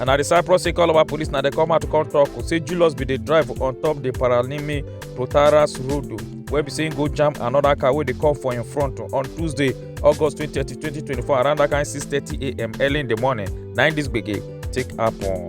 and na di cyprus say calabar police na dey come out to come tok say julius bin dey drive on top di paralimi protaras road wey be say go jam anoda car wey dey come for im front on tuesday august 2030 2024 around dat kain 6:30am early in di morning na im dis gbege take happen.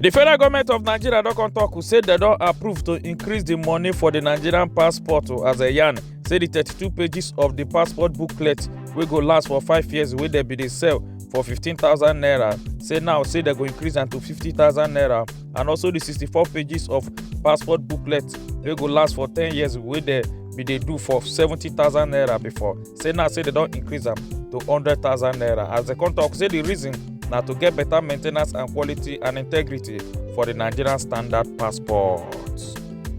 di federal goment of nigeria don come tok say dem don approve to increase di money for di nigerian passport as a yarn say di 32 pages of di passport booklet wey go last for five years wey dem bin dey sell for 15,000 naira. Say now, say they go increase am to 50,000 naira. And also the 64 pages of passport booklet wey go last for 10 years wey dey be dey do for 70,000 naira before. Say now, say they don increase am to 100,000 naira. As the come talk, say the reason na to get better maintenance and quality and integrity for the Nigerian standard passport.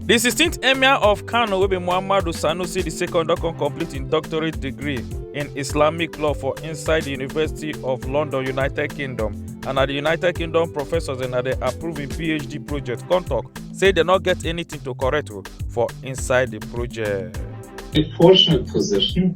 Di 16th Emir of Kano wey be Muhammadu Sanusi II don come complete im doctorate degree in Islamic law for inside di University of London, United Kingdom and na di United Kingdom professors dem na dey approve im PhD project come tok say dem no get anything to correct o for inside di project. A fortunate position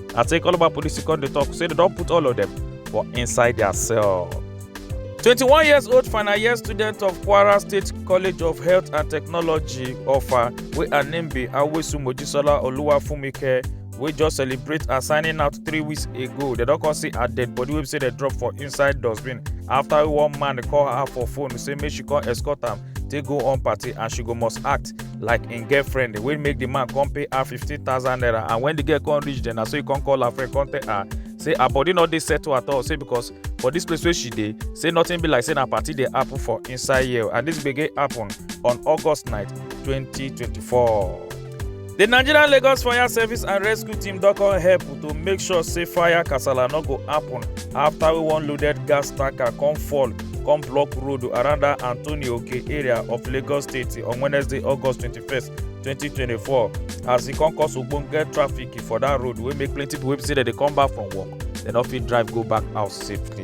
I take all of our police to come dey talk say they don put all of them for inside their cell. 21 years old final year student of Kwara State College of Health and Technology Offa wey her name be Awesu Mojisola Oluwafunmike wey just celebrate her signing out three weeks ago. They don come see her dead body wey be say they drop for inside dustbin after one man call her for phone say make she come escort am take go on party and she go must act like im girlfriend wey make the man come pay her fifteen thousand naira and when the girl come reach there na so he come call her friend come tell her say her body no dey settle at all say because for this place wey she dey say nothing be like say na party dey happen for inside here and this gbege happen on august night twenty twenty four. The Nigerian Lagos Fire Service and Rescue Team don come help to make sure say fire kasala no go happen after we one loaded gas tanker come fall come block road around that Anthony Oke area of Lagos State on Wednesday, August 21st, 2024 as e come cause ogbonge traffic for that road wey make plenty people wey be say dem dey come back from work dem no fit drive go back house safely.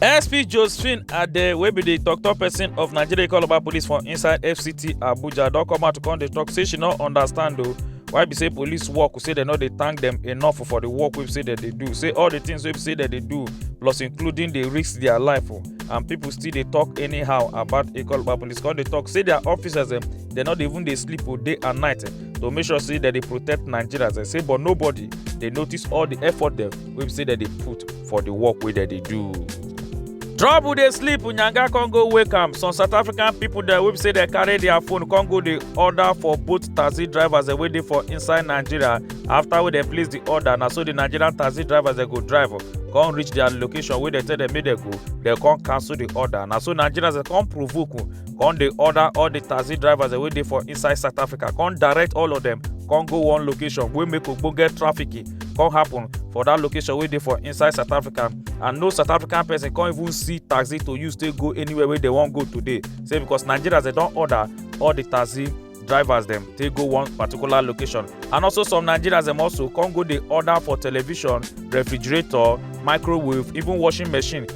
SP Josephine Ade wey be di tok-tok pesin of Nigeria Calabar Police for inside FCT Abuja don come out to come dey tok say she no understand o why be say police work say dem no dey thank dem enough for di work wey say dem dey do say all di things wey say dem dey do plus including dey risk dia life o and pipo still dey tok anyhow about Calabar Police come dey tok say dia officers dem dem no dey even dey sleep o day and night to make sure say dem dey protect Nigerians say but nobody dey notice all di effort dem wey be say dem dey put. for the work wey dem dey do. trouble dey sleep nyanga con go wake am some south african pipo dem wey be say dem carry dia phone con go dey order for both taxi drivers dem wey dey for inside nigeria afta wey dem place di order na so di nigerian taxi drivers dem go drive con reach dia location wey dem tell dem make dem go dem con cancel di order na so nigerians dem con provoke con dey order all di taxi drivers dem wey dey for inside south africa con direct all of dem con go one location wey make ogbonge traffic come happen for that location wey dey for inside south africa and no south african person come even see taxi to use take go anywhere wey they wan go today say because nigerians dey don order all the taxi drivers dem take go one particular location and also some nigerians dem also come go dey order for television refrigerator microwave even washing machine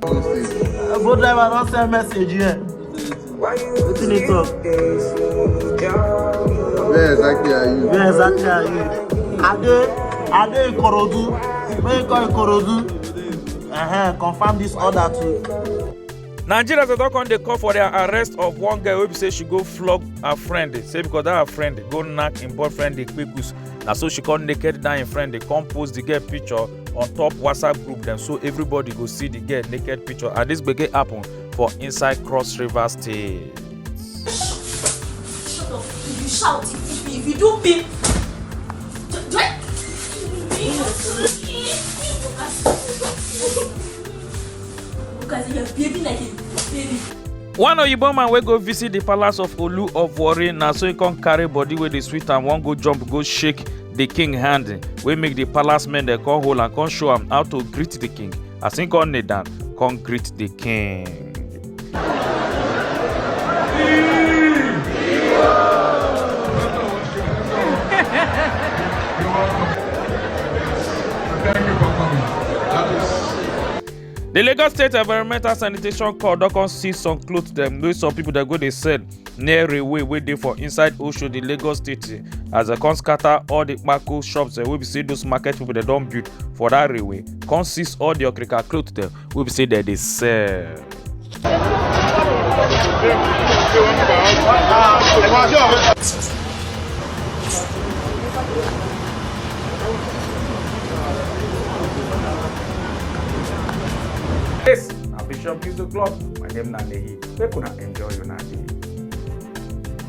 Go driver don send message here. Wetin dey talk? Where exactly are you? Where exactly are you? Ade Ade Ikorodu. Make you call Ikorodu. Uh-huh, confirm this order too. nigerians dey don come dey call for their arrest of one girl wey be say she go flog her friend say because that her friend go knack im boyfriend dey kpekus na so she come naked down im friend dey come post the girl picture on top whatsapp group dem so everybody go see the girl naked picture and this gbege happen for inside cross river state. Shut up. If you shout, it is me. If you do beep. Do, do I? Because you're behaving like a baby. one oyibo man wey go visit di palace of olu of warri na so e come carry body wey dey sweet am wan go jump go shake di king hand wey make di palace men dem come hold am come show am how to greet di king as im come kneel down come greet di king. The Lagos State Environmental Sanitation Corps don come see some clothes dem wey some people dey go dey sell near railway wey dey for inside Oshodi, Lagos State as dem come scatter all the kpako shops dem wey be say those market people dem don build for that railway come seize all the okrika clothes dem wey be say dem dey sell. Yes, na Bishop Use the Club. My name na Nehi. Make una enjoy una day.